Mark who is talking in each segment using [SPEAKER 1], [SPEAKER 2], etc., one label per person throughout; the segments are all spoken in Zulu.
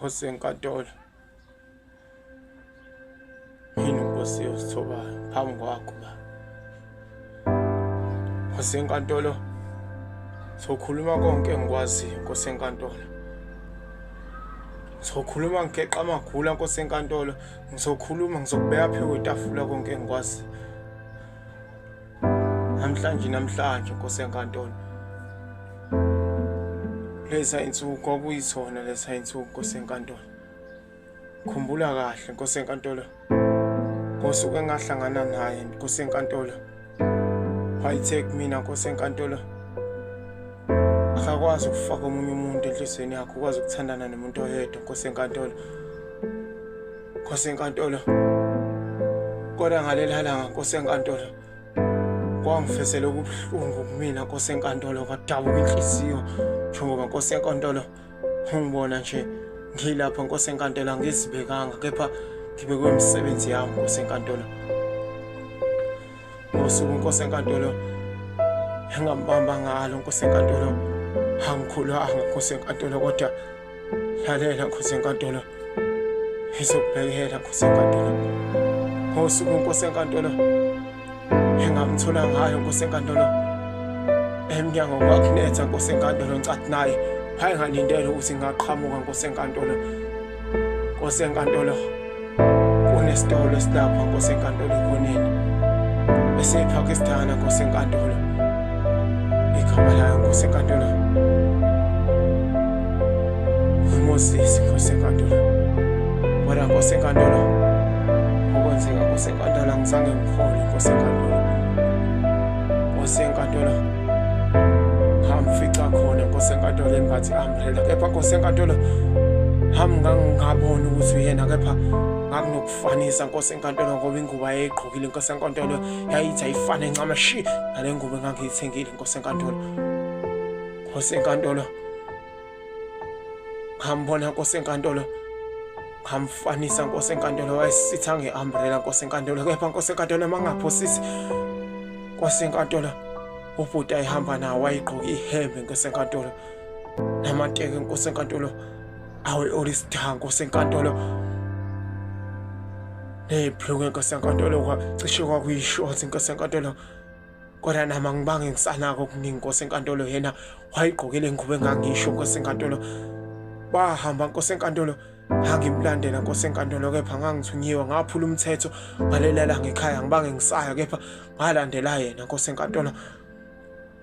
[SPEAKER 1] Nkosi enkantolo yini nkosi yosithobayo phambi kwakho ba nkosi enkantolo sokhuluma konke engikwaziyo nkosi enkantolo ngizokhuluma ngigeqa amagula nkosi enkantolo ngizokhuluma ngizokubeka phezu kwetafula konke engikwaziyo namhlanje namhlanje nkosi enkantolo lesa insuku kwakuyisona lesa insuku nkosi enkantolo khumbula kahle nkosi enkantolo ngosuku engahlangana naye nkosi enkantolo wayithek mina nkosi enkantolo akakwazi ukufaka omunye umuntu enhliziyweni yakho ukwazi ukuthandana nomuntu oyedwa nkosi enkantolo Nkosi enkantolo. Kodwa ngaleli langa Nkosi enkantolo. Kwangifesela ubuhlungu kumina Nkosi enkantolo kwadabuka inhliziyo njengoba Nkosi enkantolo ungibona nje ngilapha Nkosi enkantolo angizibekanga kepha ngibekwe imisebenzi yami Nkosi enkantolo. ngosuku inkosi enkantolo engambamba ngalo nkosi enkantolo angikhulanga nkosi enkantolo kodwa lalela nkosi enkantolo izokubhekela nkosi enkantolo ngosuku inkosi enkantolo engamthola ngayo nkosi enkantolo emnyango kwakunetha nkosi enkantolo ngicathi naye wayengalindele ukuthi ngaqhamuka nkosi enkantolo Nkosi enkantolo kunesitolo esilapha Nkosi enkantolo ekhoneni esePakistan Nkosi enkantolo igama layo Nkosi enkantolo Moses Nkosi enkantolo Wena Nkosi enkantolo okwenzeka Nkosi enkantolo ngizange ngikhole Nkosi enkantolo Nkosi enkantolo ngamfica khona Nkosi enkantolo engathi phela kepha nkosi enkantolo hami ngangingaboni ukuthi uyena kepha ngakunokufanisa nkosi enkantolo ngoba ingubo ayeyigqokile nkosi enkantolo yayithi ayifane ncama shi nale ngubo engangiyithengile nkosi enkantolo nkosi enkantolo ngambona nkosi enkantolo ngamfanisa nkosi enkantolo wayesitha nge-umbrela nkosi enkantolo kepha nkosi enkantolo mangaphosisi nkosi enkantolo ubhuti ayihamba nawo wayigqoke ihembe nkosi enkantolo namanteke inkosi enkantolo awe olisitha nkosi enkantolo neyibhluku inkosi enkantolo cishe kwakuyishoti inkosi enkantolo kodwa nama ngibange ngisanako okuningi inkosi enkantolo yena wayigqokele ingubo engangisho inkosi enkantolo bahamba inkosi enkantolo ngangimlandela nkosi enkantolo kepha ngangithunyiwe ngaphula umthetho ngalelela ngekhaya ngibange ngisaya kepha ngalandela yena nkosi enkantolo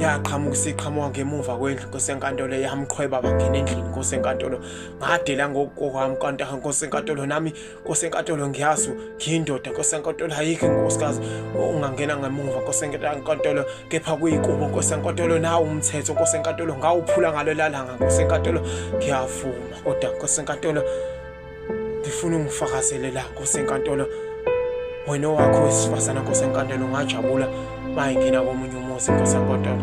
[SPEAKER 1] yaqhamuka isiqhamuka ngemuva kwendlu inkosi enkantolo yamqhweba bangena endlini inkosi enkantolo ngadela ngokwami kanti inkosi enkantolo nami inkosi enkantolo ngiyazi ngiyindoda inkosi enkantolo ayikho inkosikazi ungangena ngemuva inkosi enkantolo kepha kuyikubo inkosi enkantolo nawo umthetho inkosi enkantolo ngawuphula ngalo lalanga inkosi enkantolo ngiyavuma kodwa inkosi enkantolo ngifuna ungifakazele la nkosi enkantolo wena owakho wesifazane nkosi enkantolo ngajabula bayingena komunye umuzi nkosi enkantolo